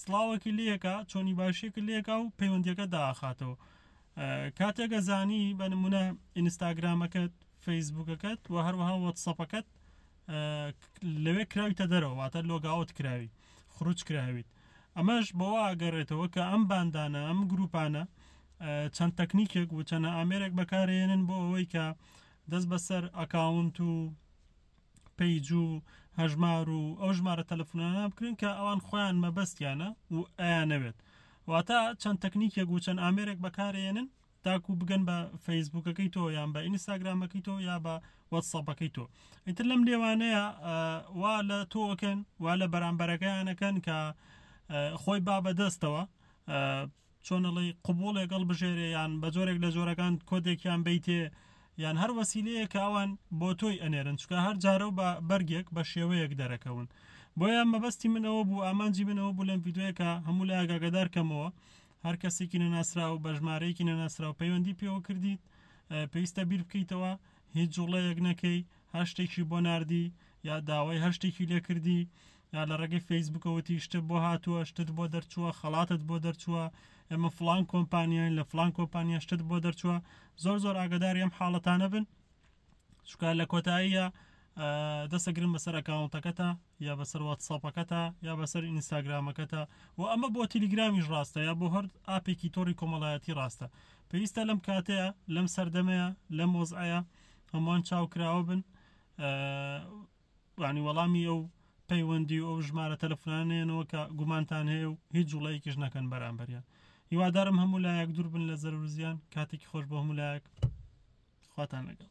سڵاوەکی لێکا چۆنی باشیەکە لێکا و پەیوەندیەکە داخاتەوە کاتێکە زانی بە نمونە ئینستاگرامەکەت فەیسبوکەکەت و هەروەها وەتسەپەکەت لەوێ کراویتە دەرەوەواتە لۆگاوت کراوی خروج کراویت ئەمەش بەوە ئاگەڕێتەوە کە ئەم باندانە ئەم گروپانە چەند تەکنیکێک و چەنە ئامێرێک بەکارێنن بۆ ئەوەی کە دەست بەسەر ئەکاونت و پەیج و هەژمار و ئەو ژمارە تەلەفۆنانە بکرێن کە ئەوان خۆیان مەبەستیانە و ئەیانەوێت واتە چەند تەکنیکێک و چەند ئامێرێک بەکارێنن تاکو بگەن بە فەیسبوکەکەی تۆ یان بە ئینستاگرامەکەی تۆ یا بە وەتسەپەکەی تۆ ئیتر لەم لێوانەیە وا لە تۆکەن وا لە بەرامبەرەکەیانەکەن کە خۆی با بەدەستەوە چۆن ئەڵێی قبوڵێک هەڵبژێرێ یان بە جۆرێک لە جۆرەکان کۆدێکیان بەیتێ یان هەر وەسیلەیە کە ئەوان بۆ تۆی ئەنێرن چکە هەر جارە و بە بەرگێک بە شێوەیەک دەرەکەون بۆیان مەبەستی من ئەوە بوو ئامانجی من ئەوە بوو لەم یددیوەکە هەموو لە ئاگاگەدار کەمەوە هەر کەسێکی نەناسرا و بەژمارەیەکی نەناسرا و پەیوەندی پێوە کردیت پێویستە بیر بکەیتەوە هیچ جوڵەیەک نەکەی هەر شتێکی بۆ نردی یا داوای هەر شتێکی لێکردی یا لە ڕێگەی فەیسبووکە وتی شتت بۆ هاتووە شتت بۆ دەرچووە خەڵاتت بۆ دەرچووە ئێمە فلان کۆمپانیاین لە فلان کۆمپانیا شتت بۆ دەرچووە زۆر زۆر ئاگداری ئەم حاڵەتانە بن چکە لە کۆتاییە دەسەگرن بەسەر ئەکاونتەکەتە یا بەسەر واتساپەکەتە یا بەسەر ئینستاگرامەکەتە و ئەمە بۆ تیلیگرامیش ڕاستە یا بۆ هەر ئاپێکی تۆری کۆمەڵایەتی ڕاستە پێویستە لەم کاتەیە لەم سەردەمەیە لەم وەزعەیە هەمووان چاوکراوە بن یانی وەڵامی ئەو پەیوەندی و ئەو ژمارە تەلەفۆنانە نێنەوە کە گومانتان هەیە و هیچ جوڵەیەکیش نەکەن بەرامبەریان هیوادارم هەموو لایەک دوور بن لە زەرور زیان کاتێکی خۆش بۆ هەموو لایەک خواتان لەگەڵ